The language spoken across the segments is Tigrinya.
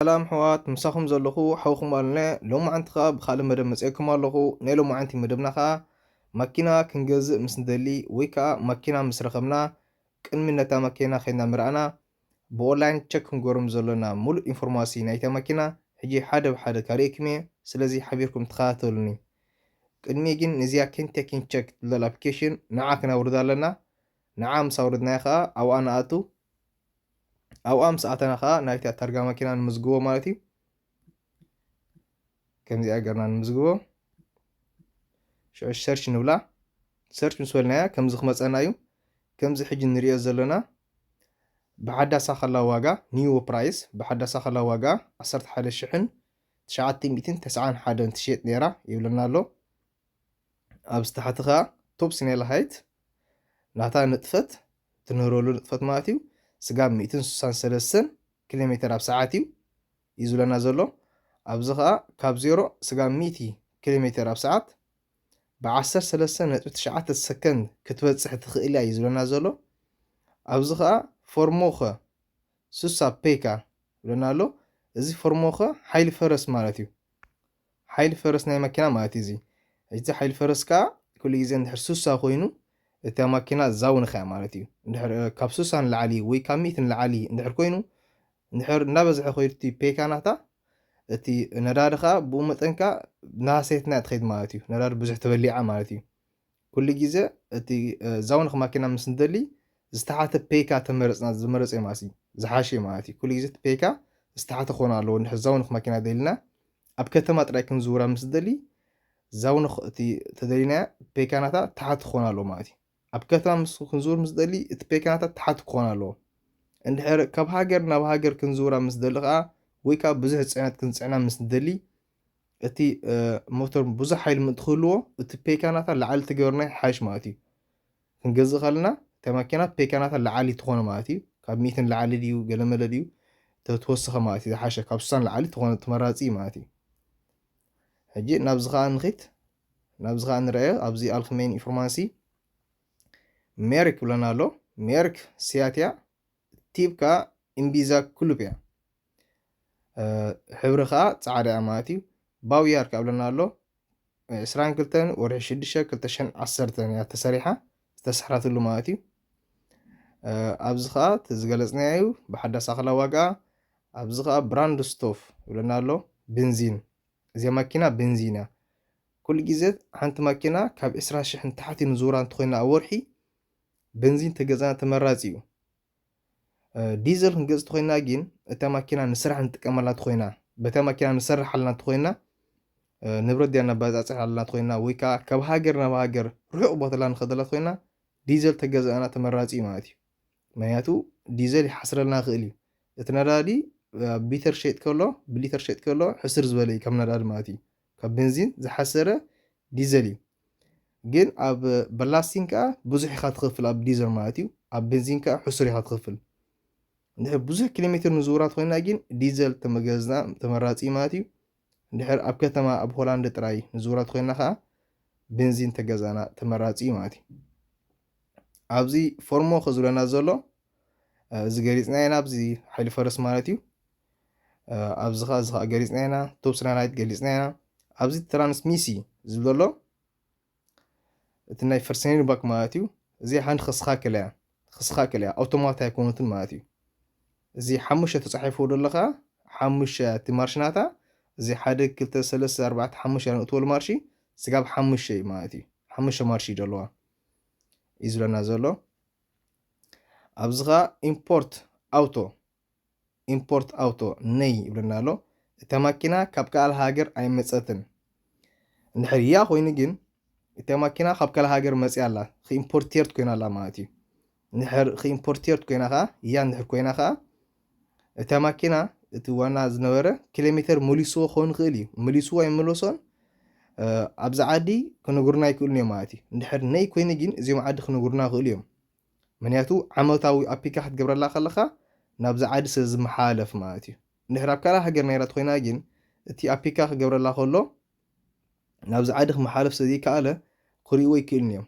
ሰላም ኣሕዋት ምሳኹም ዘለኹ ሓውኹም ኣልነ ሎማዓንቲ ከኣ ብኻልእ መደብ መጼኩም ኣለኹ ናይ ሎማዓንቲ መደብና ከኣ ማኪና ክንገዝእ ምስ ንደሊ ወይ ከኣ ማኪና ምስ ረኸብና ቅድሚ ነታ ማኬና ከድና ምረኣና ብኦላይን ቸክ ክንገሮም ዘሎና ምሉእ ኢንፎርማሲ ናይታ ማኪና ሕጂ ሓደ ብሓደ ካሪኤኩም እየ ስለዚ ሓቢርኩም ተኸታተሉኒ ቅድሚ ግን ንዚኣ ኬንቴኪን ቸክ ትብል ኣፕሊኬሽን ንዓ ክናውርዳ ኣለና ንዓ ምስ ኣውረድናያ ከኣ ኣብኣ ንኣቱ። ኣብኣ ምስ ኣተና ከኣ ናይታ ታርጋ መኪና ንምዝግቦ ማለት እዩ። ከምዚኣ ገርና ንምዝግቦ። ሽዑ ሰርች ንብላ። ሰርች ምስ በልናያ ከምዚ ክመጸና እዩ። ከምዚ ሕጂ ንርእዮ ዘሎና ብሓዳሳ ከላ ዋጋ ኒው ፕራይስ ብሓዳሳ ከላ ዋጋ ዓሰርተ ሓደ ሽሕን ትሽዓተ ሚእትን ተስዓን ሓደን ትሽየጥ ነይራ ይብለና ኣሎ። ኣብዚ ታሕቲ ከኣ ቶብ ሲኔላ ሃይት ናታ ንጥፈት ትንህረሉ ንጥፈት ማለት እዩ ስጋብ ሚእትን ስሳን ሰለስተን ኪሎ ሜተር ኣብ ሰዓት እዩ እዩ ዝብለና ዘሎ ኣብዚ ከኣ ካብ ዜሮ ስጋብ ሚእቲ ኪሎ ሜተር ኣብ ሰዓት ብዓሰርተ ሰለስተ ነጥቢ ትሽዓተ ሰከንድ ክትበጽሕ ትኽእል እያ እዩ ዝብለና ዘሎ ኣብዚ ከኣ ፎርሞኸ ስሳ ፔካ ይብለና ኣሎ እዚ ፎርሞኸ ሓይሊ ፈረስ ማለት እዩ ሓይሊ ፈረስ ናይ ማኪና ማለት እዩ እዚ ሕጂ እዚ ሓይሊ ፈረስ ከኣ ኩሉ ግዜ እንድሕር ሱሳ ኮይኑ እታ ማኪና ዛው ንኸያ ማለት እዩ እንድሕር ካብ ሱሳ ንላዕሊ ወይ ካብ ሚእቲ ንላዕሊ እንድሕር ኮይኑ እንድሕር እንዳበዝሐ ከይዱ እቲ ፔካ ናታ እቲ ነዳዲ ከኣ ብኡ መጠን ከኣ ናሃሰየት ናያ ትኸይድ ማለት እዩ ነዳዲ ብዙሕ ተበሊዓ ማለት እዩ ኩሉ ግዘ እቲ ዛውን ክማኪና ምስ ንደሊ ዝተሓተ ፔካ ተመረፅና ዝመረፀ እዩ ማለት እዩ ዝሓሸ እዩ ማለት እዩ ኩሉ ግዘ እቲ ፔካ ዝተሓተ ክኾን ኣለዎ እንድሕር ዛውን ክማኪና ደሊና ኣብ ከተማ ጥራይ ክንዝውራ ምስ ንደሊ ዛውን እቲ ተደሊናያ ፔካናታ ተሓት ክኾን ኣለዎ ማለት እዩ ኣብ ከተማ ምስ ክንዝውር ምስ ደሊ እቲ ፔካናታ ተሓት ክኾን ኣለዎ እንድሕር ካብ ሃገር ናብ ሃገር ክንዝውራ ምስ ደሊ ከዓ ወይ ከዓ ብዙሕ ፅዕነት ክንፅዕና ምስ ንደሊ እቲ ሞተር ብዙሕ ሓይሊ ምእንቲ ክህልዎ እቲ ፔካናታ ላዓሊ ትገበርና ሓይሽ ማለት እዩ ክንገዝእ ከለና እታ ማኪና ፔካናታ ላዓሊ ትኾነ ማለት እዩ ካብ ሚእቲ ንላዓሊ ድዩ ገለመለ ድዩ ተወሰኸ ማለት እዩ ዝሓሸ ካብ ስሳን ላዓሊ ትኾነ ተመራፂ እዩ ማለት እዩ ሕጂ ናብዚ ከዓ ንኺት ናብዚ ከዓ ንረአዮ ኣብዚ ኣልክሜን ኢንፎርማንሲ ሜሪክ ብለና ኣሎ ሜሪክ ሲያትያ ቲብ ከዓ ኢምቢዛ ኩሉብ እያ ሕብሪ ከኣ ጻዕዳ እያ ማለት እዩ ባውያር ካብ ለና ኣሎ ዕስራን ክልተን ወርሒ ሽዱሽተ ክልተ ሸን ዓሰርተን እያ ተሰሪሓ ዝተሰሕራትሉ ማለት እዩ ኣብዚ ከዓ እቲ ዝገለፅናዮ እዩ ብሓዳስ ኣኽላ ዋጋ ኣብዚ ከዓ ብራንድ ስቶፍ ይብለና ኣሎ ብንዚን እዚ ማኪና ብንዚን እያ ኩሉ ግዜ ሓንቲ ማኪና ካብ ዕስራ ሽሕ ንታሕቲ ንዝውራ እንተኮይና ኣብ ወርሒ ብንዚን ተገዛና ተመራፂ እዩ ዲዘል ክንገጽ ተኾይና ግን እታ ማኪና ንስራሕ ንጥቀመላ ተኾይና በታ ማኪና ንሰርሕ ኣለና ተኾይና ንብረት ዲያ ነባጻጽሕ ኣለና ተኾይና ወይ ከዓ ካብ ሃገር ናብ ሃገር ርሑቕ ቦታላ ንኸደላ ተኾይና ዲዘል ተገዛእና ተመራጺ እዩ ማለት እዩ ምክንያቱ ዲዘል ይሓስረልና ይኽእል እዩ እቲ ነዳዲ ቢተር ሸጥ ከሎ ብሊተር ሸጥ ከሎ ሕስር ዝበለ እዩ ካብ ነዳዲ ማለት እዩ ካብ ቤንዚን ዝሓሰረ ዲዘል እዩ ግን ኣብ በላስቲን ከኣ ብዙሕ ኢኻ ትኽፍል ኣብ ዲዘር ማለት እዩ ኣብ ቤንዚን ከኣ ሕሱር ኢኻ ትኽፍል እንድሕር ብዙሕ ኪሎ ሜትር ንዝውራት ኮይና ግን ዲዘል ተመገዝና ተመራጺ እዩ ማለት እዩ እንድሕር ኣብ ከተማ ኣብ ሆላንድ ጥራይ ንዝውራት ኮይና ከኣ ቤንዚን ተገዛና ተመራጺ እዩ ማለት እዩ ኣብዚ ፎርሞ ከዝብለና ዘሎ እዚ ገሊጽና ኢና ኣብዚ ሓይሊ ፈረስ ማለት እዩ ኣብዚ ከ እዚ ከ ገሊጽና ኢና ቶብ ስናናይት ገሊጽና ኢና ኣብዚ ትራንስሚሲ ዝብል ዘሎ እቲ ናይ ፈርሰኔን ባክ ማለት እዩ እዚ ሓንቲ ክስኻክል እያ ክስኻክል እያ ኣውቶማት ኣይኮነትን ማለት እዩ እዚ ሓሙሽተ ተጻሒፉ ዘሎ ከዓ ሓሙሽተ እቲ ማርሽናታ እዚ ሓደ ክልተ ሰለስተ ኣርባዕተ ሓሙሽተ ንእትወሉ ማርሺ ስጋብ ሓሙሽተ እዩ ማለት እዩ ሓሙሽተ ማርሺ እዩ ዘለዋ እዩ ዝብለና ዘሎ ኣብዚ ከኣ ኢምፖርት ኣውቶ ኢምፖርት ኣውቶ ነይ ይብለና ኣሎ እታ ማኪና ካብ ካል ሃገር ኣይመፀትን እንድሕር እያ ኮይኑ ግን እታ ማኪና ካብ ካል ሃገር መፅያ ኣላ ክኢምፖርቴርት ኮይና ኣላ ማለት እዩ እንድሕር ክኢምፖርቴርት ኮይና ከዓ እያ እንድሕር ኮይና ከዓ እታ ማኪና እቲ ዋና ዝነበረ ኪሎሜተር መሊስዎ ክኸውን ይኽእል እዩ መሊስዎ ኣይመለሶን ኣብዚ ዓዲ ክነግሩና ይክእሉን እዮም ማለት እዩ እንድሕር ነይ ኮይኑ ግን እዚኦም ዓዲ ክነግሩና ይኽእሉ እዮም ምክንያቱ ዓመታዊ ኣፒካ ክትገብረላ ከለካ ናብዚ ዓዲ ስለ ዝመሓላለፍ ማለት እዩ እንድሕር ኣብ ካልእ ሃገር ናይራ ኮይና ግን እቲ ኣፒካ ክገብረላ ከሎ ናብዚ ዓዲ ክመሓለፍ ስለ ዘይከኣለ ክርእይዎ ይክእሉን እዮም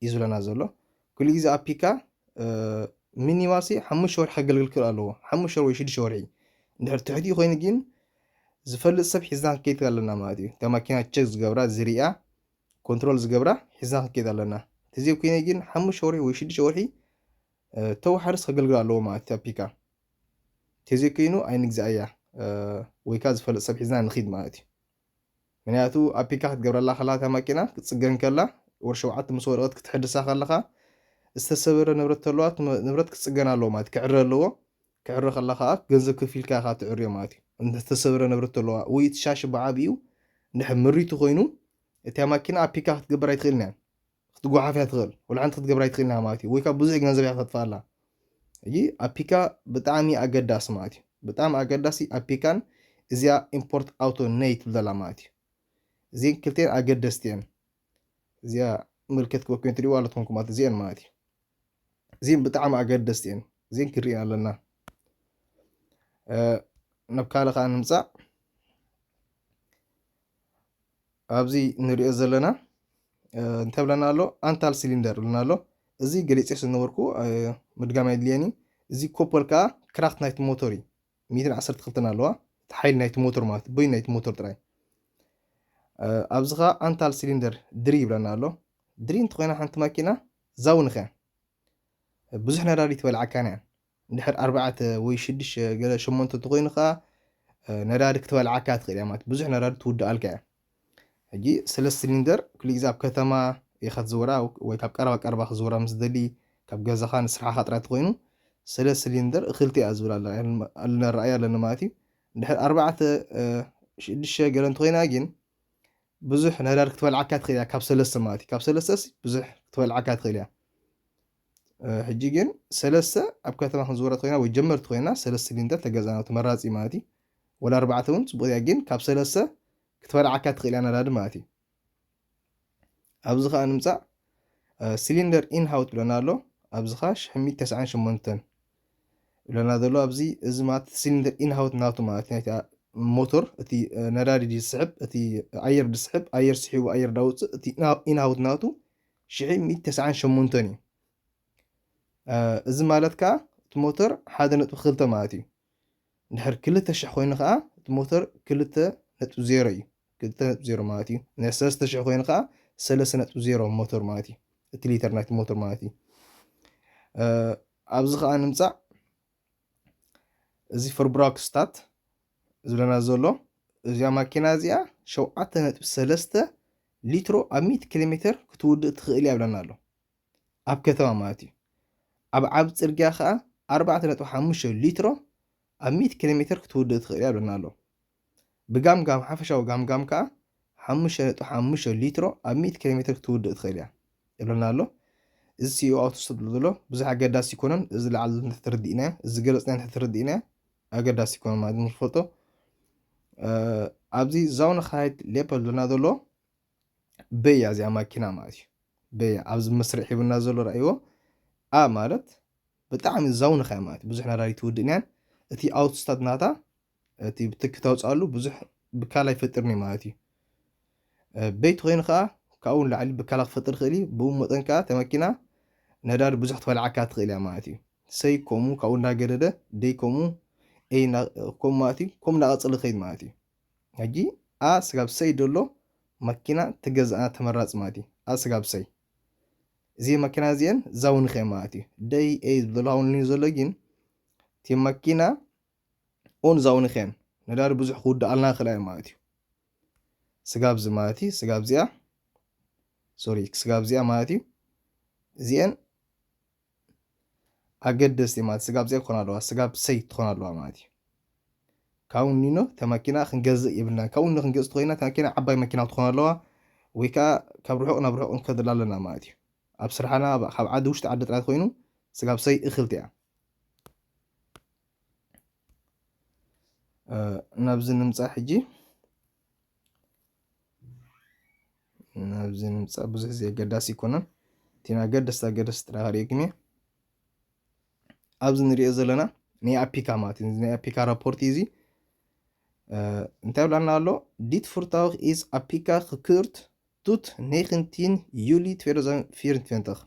እዩ ዝብለና ዘሎ ኩሉ ግዜ ኣብ ፒካ ሚኒማሲ ሓሙሽተ ወርሒ ከገልግል ክእል ኣለዎ ሓሙሽተ ወይ ሽዱሽተ ወርሒ እንድሕር ትሕቲኡ ኮይኑ ግን ዝፈልጥ ሰብ ሒዝና ክንከይድ ኣለና ማለት እዩ እታ ማኪና ቸክ ዝገብራ ዝርያ ኮንትሮል ዝገብራ ሒዝና ክንከይድ ኣለና ተዘይ ኮይነ ግን ሓሙሽተ ወርሒ ወይ ሽዱሽተ ወርሒ ተዋሓርስ ከገልግል ኣለዎ ማለት እዩ ፒካ ተዘይ ኮይኑ ኣይንግዛእያ ወይ ከዓ ዝፈልጥ ሰብ ሒዝና ንኺድ ማለት እዩ ምክንያቱ ኣፒካ ክትገብረላ ከለካ እታ ማኪና ክትጽገን ከላ ወር ሸውዓተ ምስ ወደቀት ክትሕድሳ ከለካ ዝተሰበረ ንብረት ተለዋ እቲ ንብረት ክጽገን ኣለዎ ማለት ክዕረ ኣለዎ ክዕረ ከላ ከኣ ገንዘብ ከፊልካ ኢካ ትዕርዮ ማለት እዩ እንተ ዝተሰበረ ንብረት ተለዋ ወይ እቲ ሻሺ ብዓቢኡ እንድሕር ምሪቱ ኮይኑ እቲያ ማኪና ኣፒካ ክትገብር ኣይትክእልን እያ። ክትጎሓፍ እያ ትኽእል ወላ ሓንቲ ክትገብራ ኣይትኽእልን እያ ማለት እዩ ወይ ካብ ብዙሕ ገንዘብ እያ ከተጥፍኣላ ሕጂ ኣፒካ ብጣዕሚ ኣገዳሲ ማለት እዩ ብጣዕሚ ኣገዳሲ ኣፒካን እዚኣ ኢምፖርት ኣውቶ ነይ ትብል ዘላ ማለት እዩ እዚን ክልቴን ኣገደስቲ እየን እዚኣ ምልክት ክበኩን ትሪእዋ ኣለትኩም ኩማት እዚአን ማለት እዩ እዚን ብጣዕሚ ኣገደስቲ እየን እዚን ክንሪእን ኣለና ናብ ካልእ ከዓ ንምፃእ ኣብዚ ንሪኦ ዘለና እንታይ ብለና ኣሎ ኣንታል ሲሊንደር ብለና ኣሎ እዚ ገሊፀ ስለነበርኩ ምድጋም ኣይድልየን እዩ እዚ ኮፐል ከዓ ክራክት ናይቲ ሞተር እዩ ሚትን ዓሰርተ ክልተን ኣለዋ እቲ ሓይሊ ናይቲ ሞተር ማለት እዩ በይኑ ናይቲ ሞተር ጥራይ ኣብዚ ከዓ ኣንታል ሲሊንደር ድሪ ይብለና ኣሎ ድሪ እንተኮይና ሓንቲ ማኪና ዛውንኸ ብዙሕ ነዳዲ ትበልዓካን እያ እንድሕር ኣርባዕተ ወይ ሽዱሽተ ገለ ሸሞንተ እንተኾይኑ ከኣ ነዳዲ ክትበልዓካ ትኽእል እያ ማለት ብዙሕ ነዳዲ ትውድኣልካ እያ ሕጂ ሰለስተ ሲሊንደር ኩሉ ግዜ ኣብ ከተማ ኢኻ ትዝውራ ወይ ካብ ቀረባ ቀረባ ክዝውራ ምስ ደሊ ካብ ገዛኻ ንስራሕኻ ጥራይ እንተኾይኑ ሰለስተ ሲሊንደር እኽልቲ እያ ዝብል ኣለና ረኣያ ኣለና ማለት እዩ እንድሕር ኣርባዕተ ሽዱሽተ ገለ እንተኾይና ግን ብዙሕ ነዳዲ ክትበልዓካ ትኽእል እያ ካብ ሰለስተ ማለት እዩ ካብ ሰለስተስ ብዙሕ ክትበልዓካ ትኽእል እያ ሕጂ ግን ሰለስተ ኣብ ከተማ ክንዝወራ ተኮይና ወይ ጀመርቲ ኮይና ሰለስተ ጊንተ ተገዛና ተመራጺ እዩ ማለት እዩ ወላ ኣርባዕተ ውን ጽቡቅ እያ ጊን ካብ ሰለስተ ክትበልዓካ ትክእል እያ ነዳዲ ማለት እዩ ኣብዚ ከኣ ንምጻእ ሲሊንደር ኢን ሃውት ብለና ኣሎ ኣብዚ ከኣ ሽሕሚት ተስዓን ሸሞንተን ብለና ዘሎ ኣብዚ እዚ ማለት ሲሊንደር ኢን ሃውት ናቱ ማለት ናይቲ ሞቶር እቲ ነዳዲ ዝስሕብ እቲ ኣየር ዝስሕብ ኣየር ስሒቡ ኣየር ዳውፅእ እቲ ኢን ሃውት ናቱ ሽሕን ሚእቲ ተስዓን ሸሞንተን እዩ። እዚ ማለት ከኣ እቲ ሞተር ሓደ ነጥቢ ክልተ ማለት እዩ። እንድሕር ክልተ ሽሕ ኮይኑ ከኣ እቲ ሞተር ክልተ ነጥቢ ዜሮ እዩ። ክልተ ነጥቢ ዜሮ ማለት እዩ። እንድሕር ሰለስተ ሽሕ ኮይኑ ከኣ ሰለስተ ነጥቢ ዜሮ ሞተር ማለት እዩ። እቲ ሊተር ናይቲ ሞተር ማለት እዩ። ኣብዚ ከኣ ንምጻእ እዚ ፈርብራክስታት ዝብለና ዘሎ እዛ ማኪና እዚኣ ሸውዓተ ነጥቢ ሰለስተ ሊትሮ ኣብ ሚእቲ ኪሎ ሜትር ክትውድእ ትኽእል እያ ይብለና ኣሎ ኣብ ከተማ ማለት እዩ ኣብ ዓብ ፅርግያ ከዓ ኣርባዕተ ነጥቢ ሓሙሽተ ሊትሮ ኣብ ሚእቲ ኪሎ ሜትር ክትውድእ ትኽእል እያ ይብለና ኣሎ ብጋምጋም ሓፈሻዊ ጋምጋም ከዓ ሓሙሽተ ነጥቢ ሓሙሽተ ሊትሮ ኣብ ሚእቲ ኪሎ ሜትር ክትውድእ ትኽእል እያ ይብለና ኣሎ እዚ ሲኦ ኣውቶ ዝሰጥሉ ዘሎ ብዙሕ ኣገዳሲ ይኮነን እዚ ላዕሊ ተተርዲእናዮ እዚ ገለፅናዮ ተተርዲእናዮ ኣገዳሲ ይኮኑ ማለት ንክፈልጦ ኣብዚ ዛውንኻይት ሌፐል ዞና ዘሎ በያ እዚኣ ማኪና ማለት እዩ በያ ኣብዚ መስርዕ ሂብና ዘሎ ርእይዎ ኣ ማለት ብጣዕሚ ዛውንኻይ ማለት ብዙሕ ነዳዲ ትውድእን እያን እቲ ኣውትስታት ናታ እቲ ብትኪ ተውፅኣሉ ብዙሕ ብካላ ይፈጥርኒ ማለት እዩ በይቲ ኮይኑ ከኣ ካብኡ ንላዕሊ ብከላ ክፈጥር ይኽእል እዩ፣ ብኡ መጠን ከኣ እታ መኪና ነዳዲ ብዙሕ ክትበልዓካ ትኽእል እያ ማለት እዩ። ሰይ ከምኡ ካብኡ እንዳገደደ ደይ ከምኡ ኤይ እንዳ ከምኡ ማለት እዩ ከምኡ እንዳቐጸለ ክኸይድ ማለት እዩ። ሕጂ a ስጋብ ሰይ ደሎ መኪና ትገዝኣ ተመራጺ ማለት እዩ። a ስጋብ ሰይ እዚ መኪና እዚኤን ዛውንኽ እየን ማለት እዩ። ደይ ኤይ ዝብሎ ሃውንልኒ ዘሎ ግን እቲ መኪና ኦን እዛ ኡኒኬን ነዳዲ ብዙሕ ክውድኣልና ይኽእላ እየን ማለት እዩ። ስጋብ እዚ ማለት እዩ ስጋብ እዚኣ ሶሪ ስጋብ እዚኣ ማለት እዩ እዚኤን ኣገደስቲ ማለት ስጋብ እዚኣ ክኾና ኣለዋ ስጋብ ሰይ ትኾና ኣለዋ ማለት እዩ። ካብኡ ኒኖ እታ መኪና ክንገዝእ የብልናን ካብኡ ኒኖ ክንገዝእ ተኮይና እታ መኪና ዓባይ መኪና ክትኾን ኣለዋ ወይ ከዓ ካብ ርሑቕ ናብ ርሑቕ ንከድላ ኣለና ማለት እዩ ኣብ ስራሕና ካብ ዓዲ ውሽጢ ዓዲ ጥራይ ኮይኑ ስጋብ ሰይ እኽልቲ እያ ናብዚ ንምፃእ ሕጂ ናብዚ ንምፃእ ብዙሕ ዘየገዳሲ ኣይኮነን እቲ ኣገደስቲ ኣገደስቲ ጥራሕ ክሪኤኩም እየ ኣብዚ ንሪኦ ዘለና ናይ ኣፒካ ማለት እዩ ናይ ኣፒካ ራፖርት እዩ እዚ እንታይ ብላና ኣሎ ዲት ፍርታውክ ኢዝ ኣፒካ ክክርት ቱት ኔክንቲን ዩሊ 2024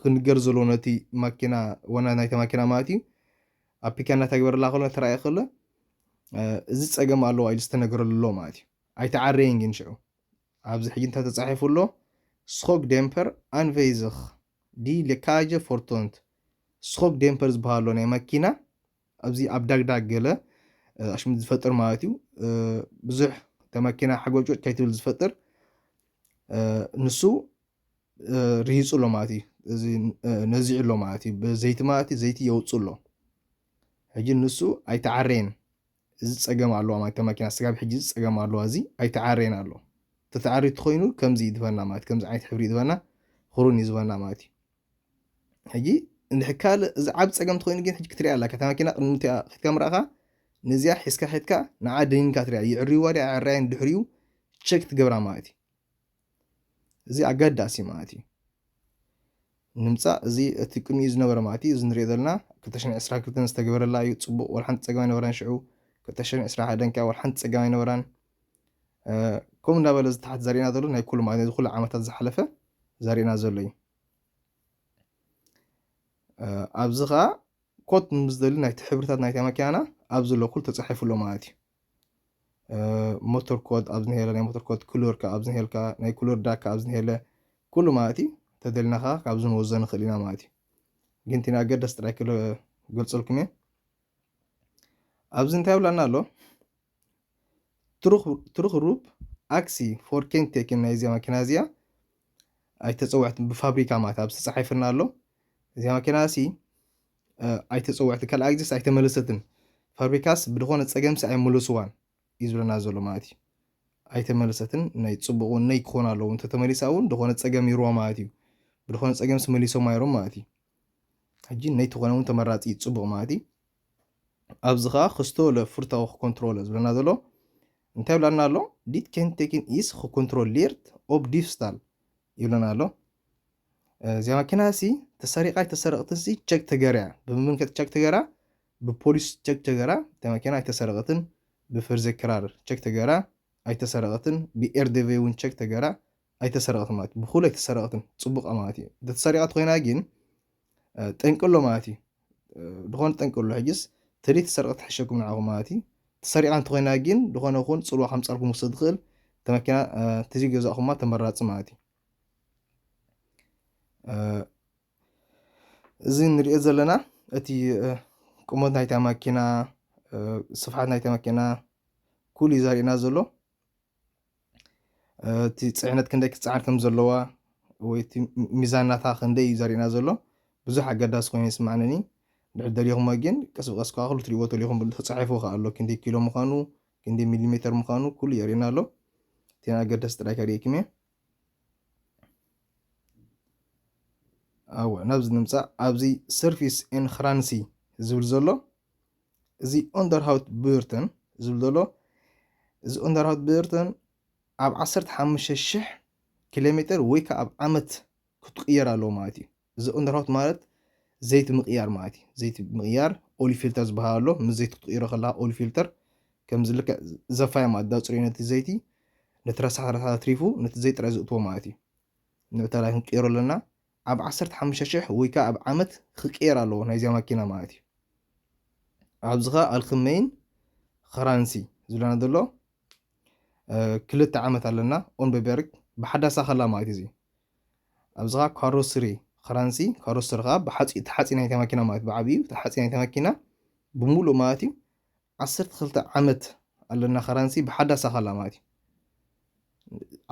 ክንገር ዘለዎ ነቲ ማኪና ወና ናይታ ማኪና ማለት እዩ ኣብ ፒካ እናተግበረላ ከሎ ተራእየ ከሎ እዚ ፀገም ኣለዋ ኢሉ ዝተነገረሉ ኣሎ ማለት እዩ ኣይተዓረየን ግን ሽዑ ኣብዚ ሕጂ እንታይ ተፃሒፉ ኣሎ ስኮግ ዴምፐር ኣንቨይዝኽ ዲ ሌካጀ ፎርቶንት ስኮግ ዴምፐር ዝበሃሎ ናይ መኪና ኣብዚ ኣብ ዳግዳግ ገለ ኣሽሙ ዝፈጥር ማለት እዩ ብዙሕ ተመኪና ሓጎጮጭ ከይትብል ዝፈጥር ንሱ ርሂጹ ኣሎ ማለት እዩ እዚ ነዚዑ ኣሎ ማለት እዩ ብዘይቲ ማለት እዩ ዘይቲ የውፅኡ ኣሎ ሕጂ ንሱ ኣይተዓረየን እዚ ፀገም ኣለዋ ማለት እታ መኪና ስጋብ ሕጂ እዚ ፀገም ኣለዋ እዚ ኣይተዓረየን ኣሎ ተተዓርዩ ትኮይኑ ከምዚ እዩ ዝበና ማለት ከምዚ ዓይነት ሕብሪ እዩ ዝበና ክሩን እዩ ዝበና ማለት እዩ ሕጂ እንድሕ ካልእ እዚ ዓብ ፀገም ትኮይኑ ግን ሕጂ ክትሪያ ኣለካ እታ መኪና ቅድሚ ክትካ ምራእካ ነዚያ ሒዝካ ሒድካ ንዓ ደኒንካ ትሪያ ይዕርይዋ ድያ ኣዕራየን ድሕሪኡ ቸክ ትገብራ ማለት እዩ እዚ ኣገዳሲ ማለት እዩ ንምፃእ እዚ እቲ ቅድሚኡ ዝነበረ ማለት እዩ እዚ ንሪኦ ዘለና 222 ዝተገበረላ እዩ ፅቡቅ ወላ ሓንቲ ፀገም ኣይነበራን ሽዑ 221 ከዓ ወላ ሓንቲ ፀገም ኣይነበራን ከምኡ እንዳበለ እዚ ታሕቲ ዘርእና ዘሎ ናይ ኩሉ ማለት ኩሉ ዓመታት ዝሓለፈ ዘርእና ዘሎ እዩ ኣብዚ ከዓ ኮት ምስ ዝደሊ ናይቲ ሕብርታት ናይታ መኪናና ኣብዚ ዘሎ ኩሉ ተፃሒፉ ኣሎ ማለት እዩ ሞቶር ኮድ ኣብዚ ሄለ ናይ ሞቶር ኮድ ክሉር ካብ ኣብዚ ሄልካ ናይ ክሉር ዳክ ካብ ኣብዚ ሄለ ኩሉ ማለት እዩ ተደልና ከኣ ካብዚ ንወዞ ንኽእል ኢና ማለት እዩ ግን እቲ ንኣገደስ ጥራይ ክገልጸልኩም እየ ኣብዚ እንታይ ብላና ኣሎ ትሩኽ ሩብ ኣክሲ ፎር ኬንቴክን ናይ እዚኣ መኪና እዚኣ ኣይተፀውዐትን ብፋብሪካ ማለት ኣብ ዝተፀሓይፍና ኣሎ እዚኣ መኪና እሲ ኣይተጸወዐትን ካልኣይ ግዜስ ኣይተመለሰትን ፋብሪካስ ብድኾነ ጸገምሲ ኣይመለስዋን እዩ ዝብለና ዘሎ ማለት እዩ ኣይተመለሰትን ናይ ጽቡቅ እውን ነይ ክኾን ኣለዎ እንተተመሊሳ እውን ድኾነ ጸገም ይርዋ ማለት እዩ ብድኾነ ጸገምሲ መሊሶም ኣይሮም ማለት እዩ ሕጂ ነይ ትኾነ እውን ተመራጺ ጽቡቅ ማለት እዩ ኣብዚ ከዓ ክስቶ ለፍርታዊ ክኮንትሮለ ዝብለና ዘሎ እንታይ ይብላና ኣሎ ዲት ኬንቴኪን ኢስ ክኮንትሮሌርት ኦብ ዲፍስታል ይብለና ኣሎ እዚኣ መኪና ሲ ተሰሪቃ ኣይተሰረቅትን ሲ ቸክ ተገርያ ብምምን ከ ቸክ ተገራ ብፖሊስ ቸክ ተገራ እታ መኪና ኣይተሰረቀትን ብፍርዘ ክራር ቸክ ተገራ ኣይተሰረቀትን ብኤርዴቬ እውን ቸክ ተገራ ኣይተሰረቀትን ማለት ብኩሉ ኣይተሰረቀትን ፅቡቃ ማለት እዩ እንተተሰሪቃ ተኮይና ግን ጠንቂ ኣሎ ማለት እዩ ዝኾነ ጠንቂ ኣሎ ሕጅስ ተደይ ተሰርቀ ትሕሸኩም ንዓኹም ማለት እዩ ተሰሪቃ እንተኮይና ግን ዝኾነ ኹን ፅልዋ ከምፃልኩም ውሰድ ዝኽእል ተመኪና ተዘይ ገዛእኹማ ተመራፂ ማለት እዩ እዚ እንሪኦ ዘለና እቲ ቁመት ናይታ መኪና ስፍሓት ናይታ መኪና ኩሉ እዩ ዘርእየና ዘሎ እቲ ፅዕነት ክንደይ ክትፅዓን ከም ዘለዋ ወይ እቲ ሚዛን ናታ ክንደይ እዩ ዘርእየና ዘሎ ብዙሕ ኣገዳሲ ኮይኑ ይስማዓንኒ ድሕር ደሊኹሞ ግን ቀስ ብቀስ ከዓ ኩሉ ትሪእዎ ተሊኹም ተፃሒፉ ከዓ ኣሎ ክንደይ ኪሎ ምዃኑ ክንደይ ሚሊሜተር ምዃኑ ኩሉ የርእየና ኣሎ እቲ ኣገዳሲ ጥራይ ከርእየኩም እየ እወ ናብዚ ንምፃእ ኣብዚ ሰርፊስ ኤን ክራንሲ ዝብል ዘሎ እዚ ኦንደርሃውት ብርተን ዝብል ዘሎ እዚ ኦንደርሃውት ብርተን ኣብ 15 ሽሕ ኪሎ ሜትር ወይ ከዓ ኣብ ዓመት ክትቅየር ኣለዎ ማለት እዩ እዚ ቅንታታውት ማለት ዘይቲ ምቕያር ማለት እዩ ዘይቲ ምቕያር ኦሊ ፊልተር ዝበሃል ኣሎ ምስ ዘይቲ ክትቕይሮ ከለካ ኦሊ ፊልተር ከምዚ ልክዕ ዘፋይ ማለት ዳፅሪዮ ነቲ ዘይቲ ነቲ ረሳሕ ረሳሕ ኣትሪፉ ነቲ ዘይቲ ጥራይ ዝእትዎ ማለት እዩ ንዕታላይ ክንቅይሮ ኣለና ኣብ 15 ሽሕ ወይ ከዓ ኣብ ዓመት ክቅየር ኣለዎ ናይዚያ ማኪና ማለት እዩ ኣብዚ ከዓ ኣልክመይን ኸራንሲ ዝብለና ዘሎ ክልተ ዓመት ኣለና ኦንበበርግ ብሓዳሳ ከላ ማለት እዩ ኣብዚ ከኣ ካሮስሪ ኽራንሲ ካሮስሪ ከኣ ብሓጺ ተሓጺ ናይታ መኪና ማለት ብዓቢኡ ተሓጺ ናይታ መኪና ብምሉእ ማለት እዩ ዓሰርተ ክልተ ዓመት ኣለና ኽራንሲ ብሓዳስ ኣኸላ ማለት እዩ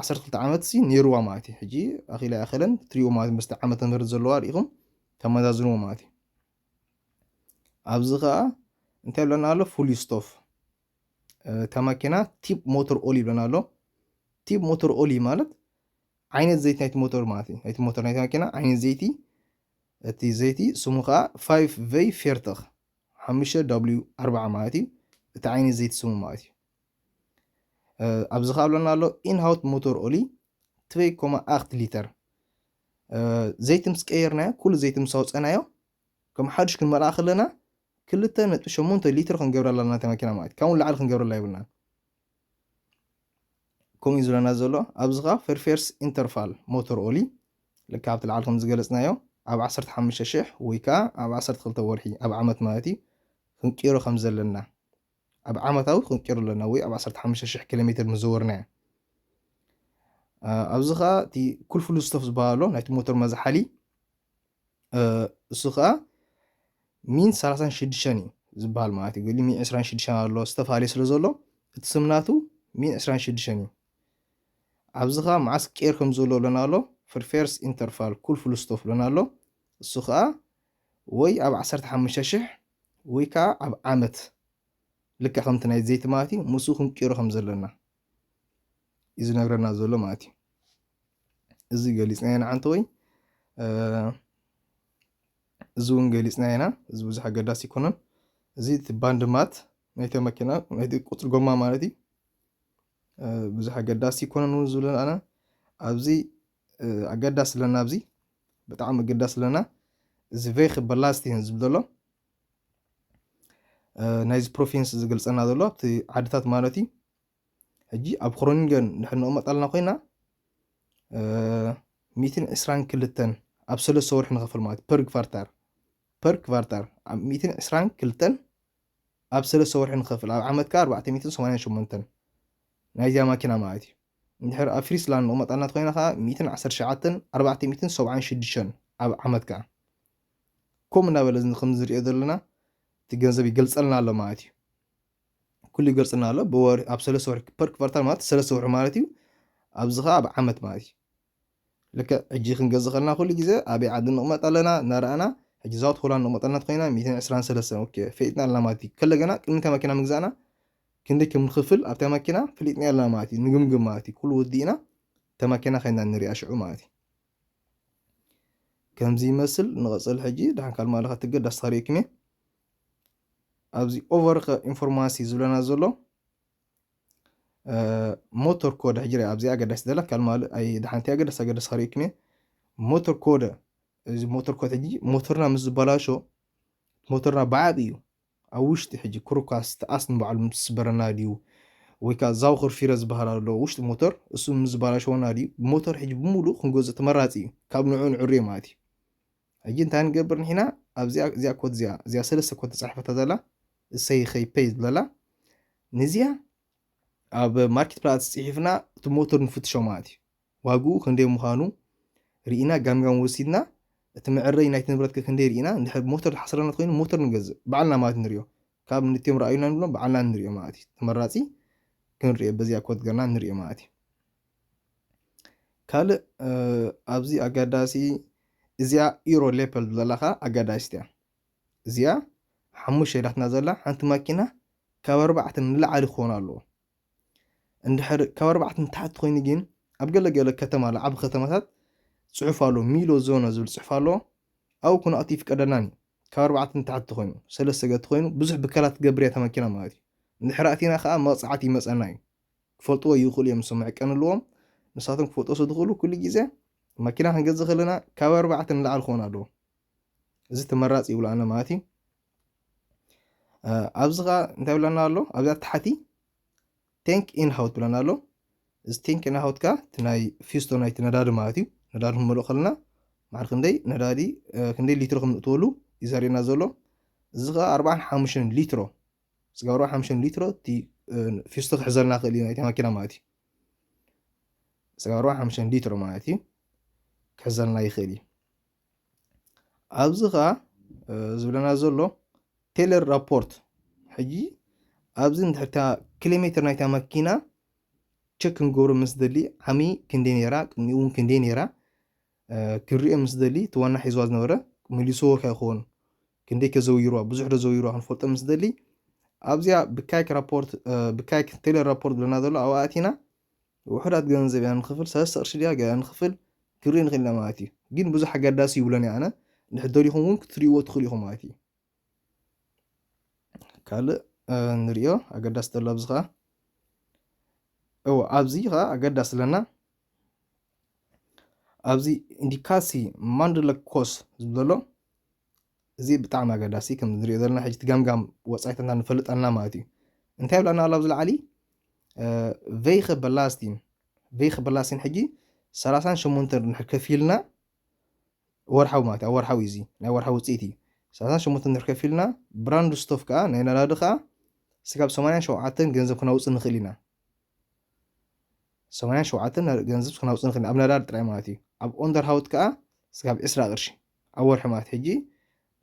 ዓሰርተ ክልተ ዓመት ሲ ነይርዋ ማለት እዩ ሕጂ ኣኺላ ኣይኣኸለን ትሪኡ ማለት ምስቲ ዓመተ ምህረት ዘለዋ ርኢኹም ተመዛዝንዎ ማለት እዩ ኣብዚ ከኣ እንታይ ብለና ኣሎ ፉል ስቶፍ እታ መኪና ቲፕ ሞተር ኦል ይብለና ኣሎ ቲፕ ሞተር ኦል ማለት ዓይነት ዘይቲ ናይቲ ሞቶር ማለት እዩ። ናይቲ ሞቶር ናይቲ ማኪና ዓይነት ዘይቲ እቲ ዘይቲ ስሙ ከኣ ፋይፍ ቨይ ፌርተኽ ሓሙሽተ ዳብልዩ ኣርባዓ ማለት እዩ። እቲ ዓይነት ዘይቲ ስሙ ማለት እዩ። ኣብዚ ከኣ ብለና ኣሎ ኢንሃውት ሞቶር ኦሊ ትበይ ኮማ ኣክት ሊተር ዘይቲ ምስ ቀየርናዮ ኩሉ ዘይቲ ምስ ኣውፀናዮ ከም ሓዱሽ ክንመልኣ ከለና ክልተ ነጥቢ ሸሞንተ ሊትር ክንገብረላ ኣለና እታ መኪና ማለት ካብኡ ንላዕሊ ክንገብረላ የብልናን ከምኡ እዩ ዝብለና ዘሎ ኣብዚ ከዓ ፈርፌርስ ኢንተርፋል ሞተር ኦሊ ልክ ኣብቲ ላዕሊ ከም ዝገለፅናዮ ኣብ 15 ሽሕ ወይ ከዓ ኣብ 12 ወርሒ ኣብ ዓመት ማለት እዩ ክንቅይሮ ከም ዘለና ኣብ ዓመታዊ ክንቅይሮ ኣለና ወይ ኣብ 15 ሽሕ ኪሎ ሜትር ምዘወርናዮ ኣብዚ ከዓ እቲ ኩልፍሉ ስተፍ ዝበሃሎ ናይቲ ሞተር መዝሓሊ እሱ ከኣ ሚን ሰላሳን ሽዱሽተን እዩ ዝበሃል ማለት እዩ ገሊ ሚን ዕስራን ሽዱሽተን ኣሎ ዝተፋለየ ስለ ዘሎ እቲ ስምናቱ ሚን ዕስራን ሽዱሽተን እዩ ኣብዚ ከኣ መዓስ ቄር ከም ዘሎ ብለና ኣሎ ፍርፌርስ ኢንተርፋል ኩል ፍሉስቶፍ ብለና ኣሎ እሱ ከኣ ወይ ኣብ ዓሰርተ ሓሙሽተ ሽሕ ወይ ከዓ ኣብ ዓመት ልክዕ ከምቲ ናይ ዘይቲ ማለት እዩ ምስኡ ክንቅይሮ ከም ዘለና እዩ ዝነግረና ዘሎ ማለት እዩ እዚ ገሊፅና ኢና ዓንተ ወይ እዚ እውን ገሊፅና ኢና እዚ ብዙሕ ኣገዳሲ ይኮነን እዚ እቲ ባንድ ማት ናይቲ መኪና ናይቲ ቁፅሪ ጎማ ማለት እዩ ብዙሕ ኣገዳሲ ይኮነን እውን ዝብለን ኣነ ኣብዚ ኣገዳሲ ኣለና ኣብዚ ብጣዕሚ ኣገዳሲ ኣለና እዚ ቬክ በላስቲን ዝብል ዘሎ ናይዚ ፕሮፌንስ ዝገልጸና ዘሎ ኣብቲ ዓድታት ማለት እዩ ሕጂ ኣብ ክሮኒንገን ንድሕር ንቕመጥ ኣለና ኮይና ሚእትን ዕስራን ክልተን ኣብ ሰለስተ ወርሒ ንኸፍል ማለት ፐር ክቫርታር ፐር ክቫርታር ኣብ ሚእትን ዕስራን ክልተን ኣብ ሰለስተ ወርሒ ንኸፍል ኣብ ዓመት ከዓ ኣርባዕተ ሚእትን ሰማንያን ሸሞንተን ናይዚያ ማኪና ማለት እዩ እንድሕር ኣብ ፍሪስላንድ ንቕመጥ ኣለና ኮይና ከዓ ሚእትን ዓሰርተ ሸዓተን ኣርባዕተ ሚእትን ሰብዓን ሽዱሽተን ኣብ ዓመት ከዓ ከምኡ እናበለ እዚ ከምዚ ዝሪኦ ዘለና እቲ ገንዘብ ይገልፀልና ኣሎ ማለት እዩ ኩሉ ይገልፅልና ኣሎ ብወር ኣብ ሰለስተ ወርሒ ፐር ክፈርታል ማለት ሰለስተ ወርሒ ማለት እዩ ኣብዚ ከዓ ኣብ ዓመት ማለት እዩ ልክዕ ሕጂ ክንገዝእ ከለና ኩሉ ግዜ ኣበይ ዓዲ ንቕመጥ ኣለና እናረኣና ሕጂ ዛውት ሆላንድ ንቕመጥ ኣለና ኮይና 123 ኦኬ ፈሊጥና ኣለና ማለት እዩ ከለ ገና ቅድሚ እታ መኪና ምግዛእና ክንደይ ከም ንኽፍል ኣብታ መኪና ፈሊጥና ኣለና ማለት እዩ ንግምግም ማለት እዩ ኩሉ ወዲእና እታ መኪና ከይና ንሪኣ ሽዑ ማለት እዩ ከምዚ ይመስል ንቐፅል ሕጂ ድሓን ካል ማለ ከትገድ ኣስተሪእክሜ ኣብዚ ኦቨር ኢንፎርማሲ ዝብለና ዘሎ ሞተር ኮደ ሕጂ ሪኣ ኣብዚ ኣገዳሲ ዘላ ካል ማለ ኣይ ድሓንቲ ኣገዳሲ ኣገዳሲ ከሪእክሜ ሞተር ኮደ እዚ ሞተር ኮደ ሕጂ ሞተርና ምስ ዝበላሾ ሞተርና በዓብ እዩ ኣብ ውሽጢ ሕጂ ክሩካስ ትኣስ ንባዕሉ ምስ ስበረና ድዩ ወይ ከኣ ዛውኽር ፊረ ዝበሃል ኣሎ ውሽጢ ሞተር እሱ ምስ ዝባላሸወና ድዩ ሞተር ሕጂ ብሙሉኡ ክንገዝኦ ተመራጺ እዩ ካብ ንዕኡ ንዕርዮ ማለት እዩ ሕጂ እንታይ ንገብር ንሕና ኣብዚኣ እዚኣ ኮት እዚኣ እዚኣ ሰለስተ ኮት ተጻሒፈታ ዘላ እሰይ ኸይ ፐይ ዝብለላ ንዚኣ ኣብ ማርኬት ፕላትስ ጽሒፍና እቲ ሞተር ንፍትሾ ማለት እዩ ዋግኡ ክንደይ ምዃኑ ርኢና ጋምጋም ወሲድና እቲ መዐረዪ ናይቲ ንብረት ከ ክንደይ ርኢና እንድሕር ብሞተር ዝሓስረና ተኾይኑ ሞተር ንገዝእ ብዓልና ማለት ንሪኦ ካብ ንቲኦም ረኣዩና ንብሎም ብዓልና ንሪኦ ማለት እዩ ተመራፂ ክንሪኦ በዚኣ ኮድ ገርና ንሪኦ ማለት እዩ ካልእ ኣብዚ ኣጋዳሲ እዚኣ ኢሮ ሌፐል ዘለካ ኣጋዳሲት እያ እዚኣ ሓሙሽተ ዳትና ዘላ ሓንቲ ማኪና ካብ ኣርባዕተ ንላዕሊ ክኾኑ ኣለዎ እንድሕር ካብ ኣርባዕተ ንታሕቲ ኮይኑ ግን ኣብ ገለ ገለ ከተማ ኣሎ ዓቢ ከተማታት ጽሑፍ ኣሎ ሚሎ ዞነ ዝብል ጽሑፍ ኣሎ ኣብኡ ክንኣቱ ይፍቀደልናን እዩ ካብ ኣርባዕተ ንታሕቲ ኮይኑ ሰለስተ ገቲ ኮይኑ ብዙሕ ብከላ ትገብር እያ ተመኪና ማለት እዩ እንድሕር ኣቲና ከዓ መቕጻዕቲ ይመጸና እዩ ክፈልጥዎ ይኽእሉ እዮም እሶም መዕቀኒ ኣለዎም ንሳቶም ክፈልጦ ዝኽእሉ ኩሉ ግዜ መኪና ክንገዝእ ከለና ካብ ኣርባዕተ ንላዕሊ ክኾን ኣለዎ እዚ ተመራፂ ይብሉ ኣነ ማለት እዩ ኣብዚ ከዓ እንታይ ብለና ኣሎ ኣብዛ ታሕቲ ቴንክ ኢን ሃውት ብለና ኣሎ እዚ ቴንክ ኢን ሃውት ከዓ እቲ ናይ ፊስቶ ናይቲ ነዳዲ ማለት እዩ ነዳዲ ክንመልኦ ከለና ማዕር ክንደይ ነዳዲ ክንደይ ሊትሮ ክንእትወሉ እዩ ዘርእየና ዘሎ እዚ ከዓ ኣርባዓን ሓሙሽተን ሊትሮ ስጋ ኣርባዓን ሓሙሽተን ሊትሮ እቲ ፊስቶ ክሕዘልና ክእል እዩ ናይቲ ማኪና ማለት እዩ ስጋ ኣርባዓን ሓሙሽተን ሊትሮ ማለት እዩ ክሕዘልና ይኽእል እዩ ኣብዚ ከኣ ዝብለና ዘሎ ቴለር ራፖርት ሕጂ ኣብዚ ንድሕርታ ኪሎሜትር ናይታ መኪና ቸክ ክንገብሮ ምስ ደሊ ዓሚ ክንደይ ነይራ ቅድሚኡ እውን ክንደይ ነይራ ክንሪኦ ምስ ደሊ እቲ ዋና ሒዝዋ ዝነበረ መሊስዎ ከ ይኸውን ክንደይ ከዘውይርዋ ብዙሕ ዶ ዘውይርዋ ክንፈልጦ ምስ ደሊ ኣብዚኣ ብካይክ ራፖርት ብካይክ ቴለር ራፖርት ዝብለና ዘሎ ኣብኣ ኣቲና ውሑዳት ገንዘብ ኢና ንክፍል ሰለስተ ቅርሺ ድያ ገለ ንክፍል ክንርኢ ንክእል ኢና ማለት እዩ ግን ብዙሕ ኣገዳሲ ይብሎን እየ ኣነ እንድሕር ደሊኹም እውን ክትርእይዎ ትኽእሉ ኢኹም ማለት እዩ ካልእ ንሪኦ ኣገዳሲ ዘሎ ኣብዚ ከዓ እዎ ኣብዚ ከዓ ኣገዳሲ ኣለና ኣብዚ ኢንዲካሲ ማንድለ ኮስ ዝብሎ እዚ ብጣዕሚ ኣገዳሲ ከምዚ ንሪኦ ዘለና ሕጂ እቲ ገምጋም ወጻኢታትና ንፈልጥ ኣለና ማለት እዩ እንታይ ይብላና ኣሎ ኣብዚ ላዕሊ ቬይኸ በላስቲን ቬይኸ በላስቲን ሕጂ ሰላሳን ሸሞንተን ድሕር ከፊልና ወርሓዊ ማለት ኣብ ወርሓዊ እዚ ናይ ወርሓዊ ውፅኢት እዩ ሰላሳን ሸሞንተን ድሕር ከፊልና ብራንድ ስቶፍ ከዓ ናይ ነዳዲ ከዓ ስጋብ ሰማንያን ሸውዓተን ገንዘብ ክነውፅእ ንኽእል ኢና ሰማንያን ሸውዓተን ገንዘብ ክነውፅእ ንኽእል ኢና ኣብ ነዳዲ ጥራይ ማለት እዩ ኣብ ኦንደር ሃውት ከዓ ስጋብ ዕስራ ቅርሺ ኣብ ወርሒ ማርት ሕጂ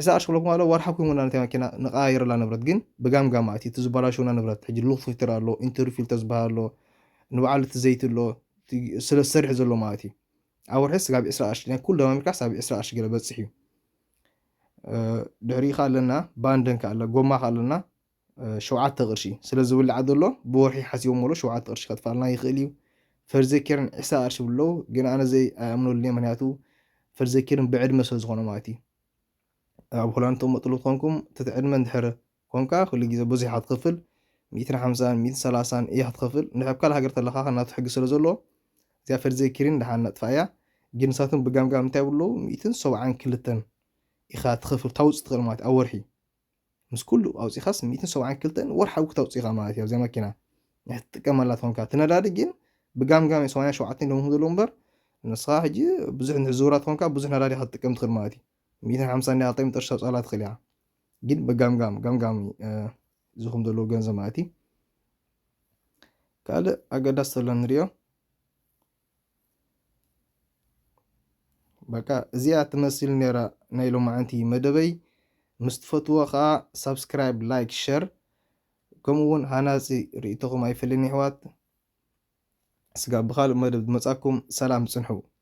እሳ ቅርሺ ክብለኩም ኣለው ወርሓዊ ክህቡና ነታ መኪና ንቀያይረላ ንብረት ግን ብጋምጋም ኣቲ እቲ ዝበላሸውና ንብረት ሕጂ ሉክ ፊልተር ኣሎ ኢንተሪ ፊልተር ዝበሃል ኣሎ ንበዓል እቲ ዘይቲ ኣሎ ስለ ዝሰርሕ ዘሎ ማለት እዩ ኣብ ወርሒ ስጋብ ዕስራ ቅርሺ ናይ ኩሉ ደማሚርካ ሳብ ዕስራ ቅርሺ ገለ በፅሕ እዩ ድሕሪኡ ከ ኣለና ባንደን ከ ኣለ ጎማ ከ ኣለና ሸውዓተ ቅርሺ ስለ ዝብላዕ ዘሎ ብወርሒ ሓሲቦም ሞሎ ሸውዓተ ቅርሺ ከጥፋልና ይኽእል እዩ ፈርዘኬርን ዕስራ ቅርሺ ይብሉ ኣለዉ ግን ኣነ ዘይ ኣይኣምነሉን እየ ምክንያቱ ፈርዘኬርን ብዕድመ ስለ ዝኾነ ማለት እዩ ኣብ ሆላንድ ተመጥሉ ትኾንኩም ትትዕድመ እንድሕር ኮንካ ኩሉ ግዜ ብዙሕ ኢኻ ትኸፍል ሚእትን ሓምሳን ሚእትን ሰላሳን ኢኻ ትኸፍል እንድሕር ኣብ ካልእ ሃገር ተለኻ ከናቱ ሕጊ ስለ ዘለዎ እዚኣ ፈርዘኬርን ድሓን ነጥፋ እያ ግን ንሳቶም ብጋምጋም እንታይ ይብሉ ሚእትን ሰብዓን ክልተን ኢኻ ትኸፍል ታውፅእ ትኽእል ማለት ኣብ ወርሒ ምስ ኩሉ ኣውጺኻስ ሚእትን ሰብዓን ክልተን ወርሓዊ ክተውጽእ ኢኻ ማለት እዩ ኣብዚኣ መኪና ናይ ትጥቀመላ ትኾንካ እቲ ነዳዲ ግን ብጋምጋም ሰማንያን ሸውዓተን ሎሚ ዘለዉ እምበር ንስኻ ሕጂ ብዙሕ ንሕዝውራ ትኾንካ ብዙሕ ነዳዲ ኢኻ ትጥቀም ትኽእል ማለት እዩ ሚእትን ሓምሳን ዲኻ ጠሚ ጥርሻ ጸላ ትኽእል ኢኻ ግን ብጋምጋም ጋምጋም ዝኹም ዘለዎ ገንዘብ ማለት እዩ ካልእ ኣገዳሲ ተሎ ንሪኦ በቃ እዚኣ ትመስል ነራ ናይ ሎማዓንቲ መደበይ ምስ ትፈትዎ ከዓ ሳብስክራይብ ላይክ ሸር ከምኡ እውን ሃናፂ ርእቶኹም ኣይፍልን ይሕዋት ስጋብ ብካልእ መደብ ዝመፃኩም ሰላም ፅንሑ